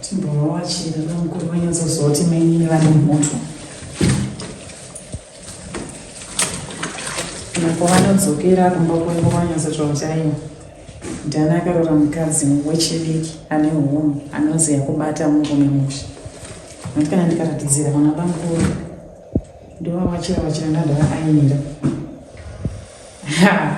Timbovawachira vamukuru vanyatsoziva kuti mainini vane moto apo vanodzokera kumba kwavo kwanyatsotsvawo chaiwo ndani akarora mukadzi wechidiki ane hunhu anoziva kubata murume musha nokuti kana ndikaratidzira vana bamukuru ndovavachira vachiranda ndavaainira ha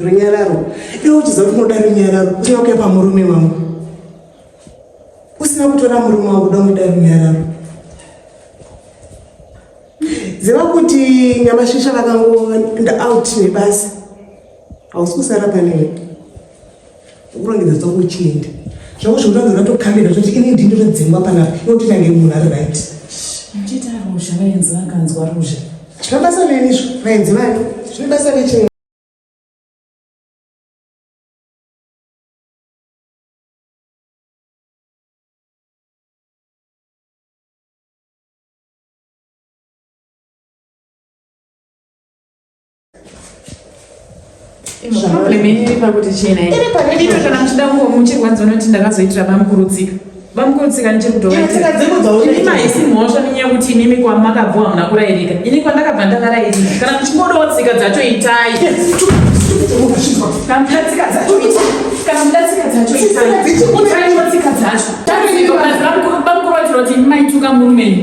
runyararo iwe uchiziva kuti unoda runyararo uchiva kuya pamurume wangu usina kutora murume wangu uda unoda runyararo ziva kuti nyamashisha vakangoenda out nebasa hausi kusara panewe Ukurongedza zita kuchienda. Chauzvo utange unatokamira toti ini ndini ndotodzingwa panapa. Iwe utotange munhu ari right. Machita ruzha vaenzi vakanzwa ruzha. Zvine basa neni izvo vaenzi vangu. Zvine basa nechei? problem yenyu iri pakuti chena iri pakudiwe kana muchida kungomuchirwadza unoti ndakazoitira bamukurudzika bamukurudzika ndichiri kudovaimahisi mhosva nenyaya yekuti imimi kwamakabvuwa hamuna kurayirika ini kwandakabva ndakarayirika kana muchingodawo tsika dzacho itai kana mudatsika dzacho kana mudatsika dzacho itai utaiwo tsika dzacho bamukurudzira kuti maituka murumenyu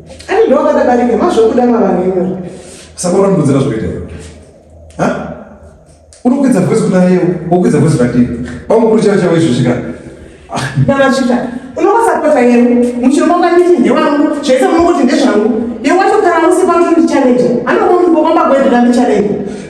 Ani ndo wakadabarika mazvokuda mavanhu iwe. Sakora mbudzira zvoita iwe. Ha? Unokwidza voice kuna yeo, wokwidza voice kwatiri. Pamukuru chavo chavo izvo zvika. Baba chita. Unokwasapota yenu. Muchiromba kwanditi ndewangu. Zvese munongoti ndezvangu. Yewacho kana usipa kuti ndichallenge. Anokumbwa kwamba kwendira ndichallenge.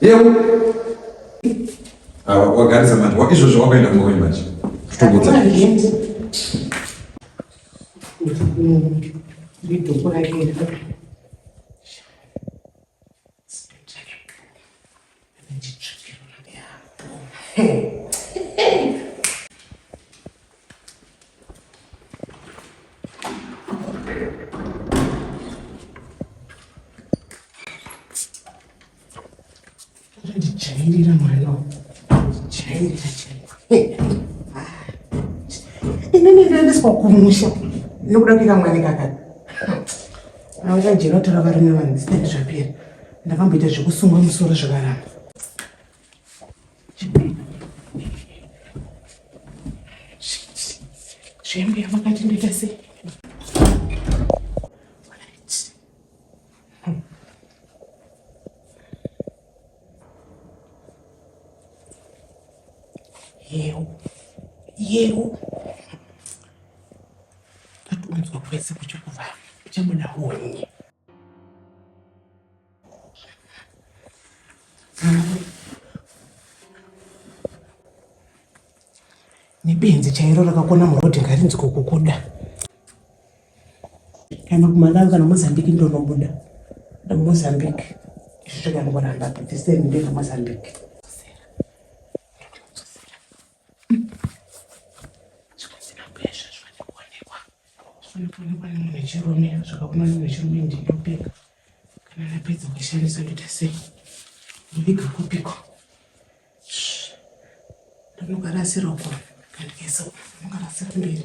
Yeu. Awa wagarisa manje. Wa izvo zvo wakaenda ngoko manje. Tutongodza. Ndito kwa yake. Hey. Change mano. Change, change. Inini ndaendeswa kumusha nekuda kuita mwana kakati. Auya jeno tora varume vanzi ndizvapera. Ndakamboita zvekusungwa musoro zvakaramba. Shembe yamakati ndoita sei? Yeu, yeu, tatunzwa kwese kuchikuva kuchabuda honye nebenzi chairo rakakona murodhi ngarinzi kukukuda kana kumalawi kana mozambique ndonobuda mozambique izvi zvakanongoramba the same ndezvemozambique Anofanirwa nemunhu wechirume zvakaona munhu wechirume ndinopika kana napedza kuishandisa ndoita sei ndoviga kupiko ndonokarasira uko kandikaisa uko ndonokarasira mberi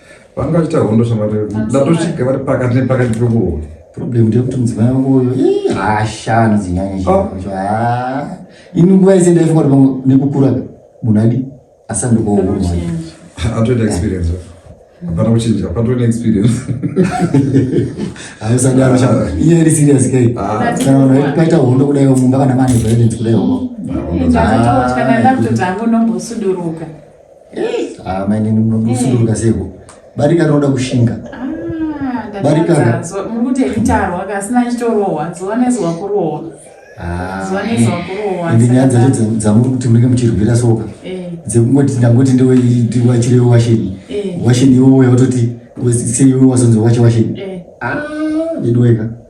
vanga vachiita hondo shamwari ndatosvika vari pakati nepakati pekuhondo problem ndeyekuti mudzimai wangu uyo ihasha anodzinyanyisha oh. ah. ini nguva yese ndaifunga kuti nekukura munhu adi asandokohurwa atoita experience hapana kuchinja patove neexperience hausadaro ah. iye iri serious kai ah. kana vanhu vaitaita hondo kudai mumba kana mane violence kudai hoko Ah, mainini munosunduruka seiko barika rinoda kushinga ndinyaya dzacho dzamuri kuti munenge muchirwira soka eh. dzekungoti ndangoti ndiwachirewo washeni eh. washeni iwowo yautoti seiwe wazonzi wache washeni eh. ah, veduweka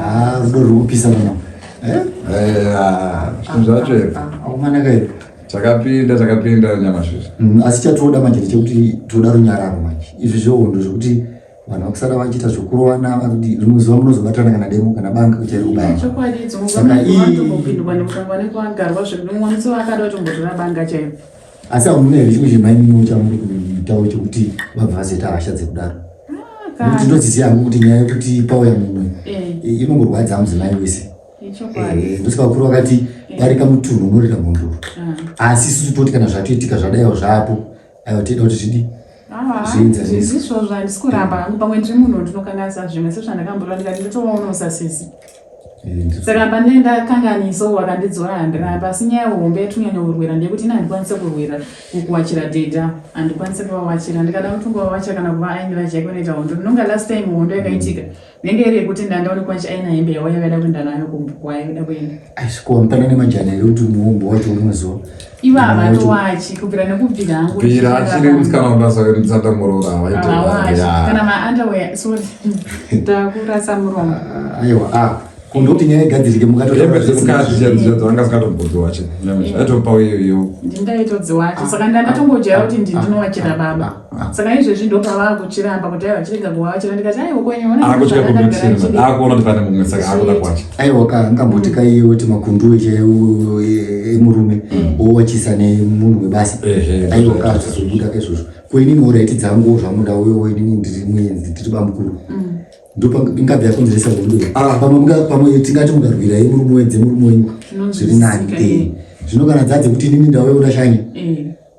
Ah, rudo ruri kupisa pano. Eh? Eh, ah, zvinhu zvacho here? Akumanaka here? Chakapinda, chakapinda nyamasvizvi. Mm, asi chatoda manje ndechekuti toda runyararo manje. Izvi zvohondo zvokuti vanhu vakusara vachiita zvokurovana vakuti rimwe zuva munozobatana kana demo kana banga kuchari kubaya. Eh, chokwadi idzo mukana vatopindwa nekutangwa nekuagarwa zvekuti mumwe musi vakada kutombotora banga chaivo. asi hamuna here chimwe chemaimino chamuri kuitawo chekuti vabva vazoita hasha dzekudaro ah, nokuti ndodziziva hangu kuti nyaya yekuti pauya mumwe eh. inongorwadza mudzimai wese eh, ndosi vakuru vakati barika eh. mutunhu unorira mhondoro ah. asi isu toti kana zvatoitika zvadaiwo zvaapo aiwa tiida kuti zvidi ah, zviinzazvizvizvo zvandikuramba hangu pamwe ndiri munhu ndinokanganisa zvimwe sezvandakamborwa ndikati ndotovaona usasisi saka pane ndakanganiso wakandidzora handiramba asi nyaya hombe yatinyanya kurwira ndeyekuti ini handikwanise kurwira kukuwachira dhedha handikwanise kuvawachira ndikada kuti ungovawacha kana kuva aini vajake unoita hondo ndinonga last time hondo yakaitika nenge iri yekuti ndandaone kwachi aina hembe yawo yakaida kuenda nayo kumbu kwayo da kuenda aisikuwa mutana nemajana ekuti muhombo wacho unoziva Iva havato wachi kubvira nekubvira hangu. Bvira achiri musikana wabasa wekutsanda muroora havaite. Hawachi. Kana ma underwear sorry. Ndakurasa muromo. Ah, aiwa ah. Kundo kuti nyaya igadzirike mukato. Yebe zvisikati zvichadzo anga zikatombodzi wachi. Aitopa uyo uyo. Ndingaitodziwachi. Saka ndanga tongojaira kuti ndinowachira baba. saka izvezvi ndopa vakuchiramba kuti aiwa chirega kuva vachira ndikati aiwa kwenyeakutya kunochira akuona kuti pane mumwe saka akuda kwacho aiwa ka ngamboti ka iye woti makunduwe chaiwo emurume wowachisa nemunhu webasa aiwa ka zvizobuda ka izvozvo ko inini oraiti dzangu zvamuda uyowo inini ndiri muenzi ndiri bamukuru ndopingabva yakonzeresa hondo pamwe tingati mukarwira yemurume wedzemurume wenyu zviri nani zvino kana dzadze kuti inini ndauya kuda shanya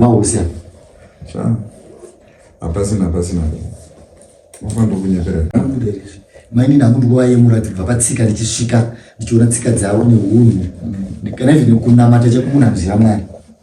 mausa hapasina hapasina mafanira kunyepera mainini hangu ndikuva yemura dzibva patsika ndichisvika ndichiona tsika dzavo neunhu kana izvi nekunamata chekumunhu anoziva mwari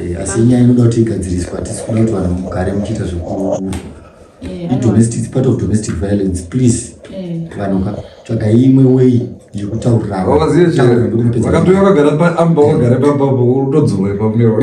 Eh, asi nyaya inoda kuti igadziriswa hatisi kuda kuti vanhu mugare muchiita zvekuu eh, idomestic part of domestic violence please eh. vanhu tsvaga imwe way yekutauriraakatouya kagara paamba wagare papapo utodzorwa ipapo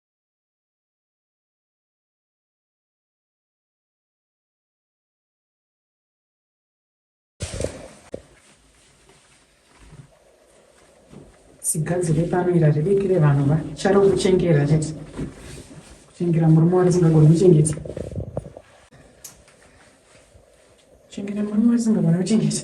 sigadzire pamira ribikire vanhu va charo kuchengera chete kuchengera murume warisingagoni kuchengeta kuchengera murume warisingagoni kuchengeta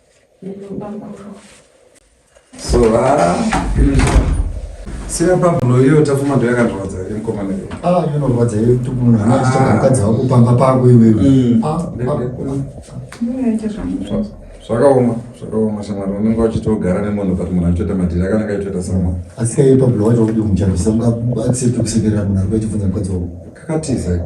so ah, sina pablo iyo tafuma ndo yakandirwadza iri mukoma neyo ah inorwadza iyo kuti munhu anochitaka ah. mukadzi wako pamba pako iwewe mm. ah, zvakaoma zvakaoma shamwari unenge uchitogara nemunhu but munhu achitoita madhiri akanaka achitoita sama asi kaiye pablo wacho kuti mucharwisa muka accept kusekerera munhu ari kuchibvunza mukadzi wako kakatiza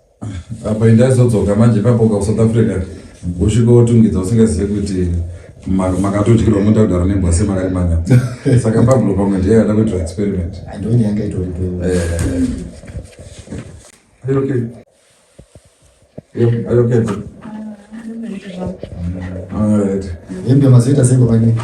apa indaizodzoka manje papoka kusouth africa usvika wotungidza usingazive kuti makatodyirwa moda kudaro nebwase makari manya saka pablo pamwe ndiye yada kuitwa experiment ndonyanga itoripo hembe mazoita sei kwamanyika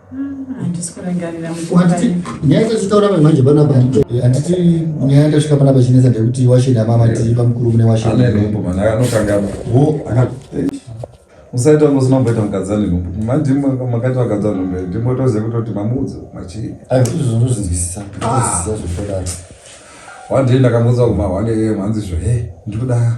nyaya dzatitaura mai manje panapa handiti nyaya tasvika panapa chinetsa ndekuti washeni amama tii pamukuru mune washenmusaita ngosi mamboita mukadzi ane nhumbu manje makaita vakadzi ane nhumbu ndimotoziva kutoti mamudzo machii aizvozvonozvinzwisisa zvotodaa one day ndakamuudza kumahwane mhanzi zvo he ndikuda